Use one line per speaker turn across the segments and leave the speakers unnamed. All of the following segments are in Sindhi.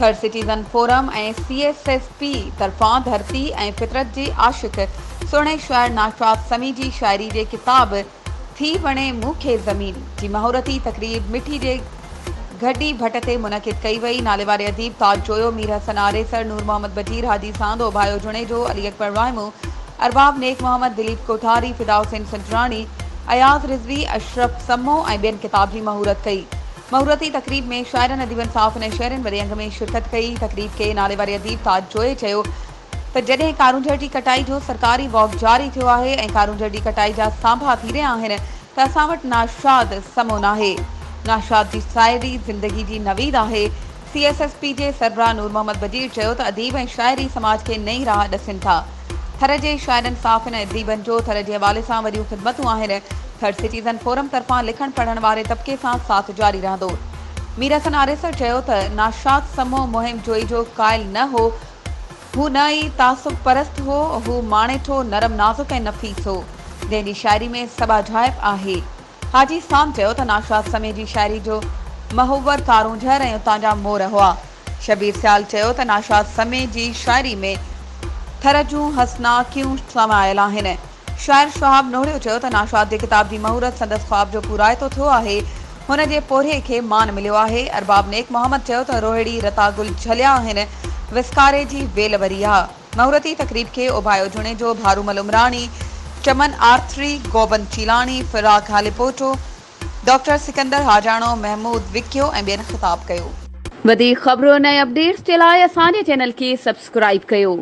Third citizen forum ۽ C S F P طرفان ڌرتي ۽ فطرت جي عاشق سهڻي شاعر ناشاد سمي جي شاعري جي ڪتاب ٿي وڻي مون کي زمين جي مهورتي تقريب مٺي جي گهٽي ڀٽ تي منعقد ڪئي وئي ناليواري اديب تاج جويو مير حسن آريسر نور محمد بجير حاجي ساندو ڀايو جوڻيجو علي اڪبر وائمو ارباب نيڪ محمد دليپ ڪوٺاري فدا حسين سنجراڻي اياز رضوي اشرف سمو ۽ ٻين ڪتاب جي مهورت ڪئي مهورتي تقريب ۾ شاعرن اديبن صحافين ۽ شهرين وڏي انگ ۾ شرڪت ڪئي تقريب کي ناليواري اديب تاج جويي چيو ته جڏهن ڪارونجهر جي ڪٽائي جو سرڪاري واڪ جاري ٿيو آهي ۽ ڪارونجهر جي ڪٽائي جا سانڀا ٿي رهيا آهن ته اسان وٽ ناشاد سمو ناهي. ناشاد جي ساعري زندگي جي نويد آهي. سي ايس ايس پي جي سربراهه نور محمد بجير چيو ته اديب ۽ شاعر ئي سماج کي نئين راهه ڏسين ٿا. ٿر جي شاعرن صحافين ۽ اديبن جو ٿر جي حوالي سان وڏيون خدمتون آهن. ٿر سٽيزن فورم طرفان لکڻ پڙهڻ واري طبقي سان ساٿ جاري رهندو. ميرحسن آريسر چيو ته ناشاد سمو مهم جوئي جو قائل نه هو هو نه ئي تعصب پرست هو، هو ماڻيٺو، نرم نازڪ ۽ نفيس هو، جنهن جي شاعري ۾ سٻاجهائپ آهي. حاجي سام چيو ته ناشاد سمي جي شاعري جو محور ڪارونجهر ۽ اتان جا مور هئا. شبير سيال چيو ته ناشاد سمي جي شاعري ۾ ٿر جون حسنا ڪيون سمايل آهن. شاعر شهاب نوحڙيو چيو ته ناشاد جي ڪتاب جي مهورت سندس خواب جو پورائتو ٿيو آهي، هن جي پورهيي کي مان مليو آهي. ارباب نيڪ محمد چيو ته روهڙي رتا گل جهليا آهن، وسڪاري جي ويل وري آ. مهورتي تقريب کي اوڀايو جوڻيجو، ڀارومل عمراڻي، چمن آرٿري، گوبند چيلاڻي، فراق هاليپوٽو، ڊاڪٽر سڪندر حاجاڻو، محمود وڪيو ۽ ٻين خطاب ڪيو. وڌيڪ خبرن ۽ اپڊيٽس جي لاء اسان جي چينل کي سبسڪرائيب ڪيو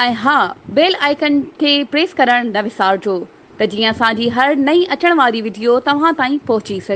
۽ ها بيل آئيڪن کي پريس ڪرڻ نه وسارجو ته جيئن اسان جي هر نئين اچڻ واري وڊيو توهان تائين پهچي سگهي.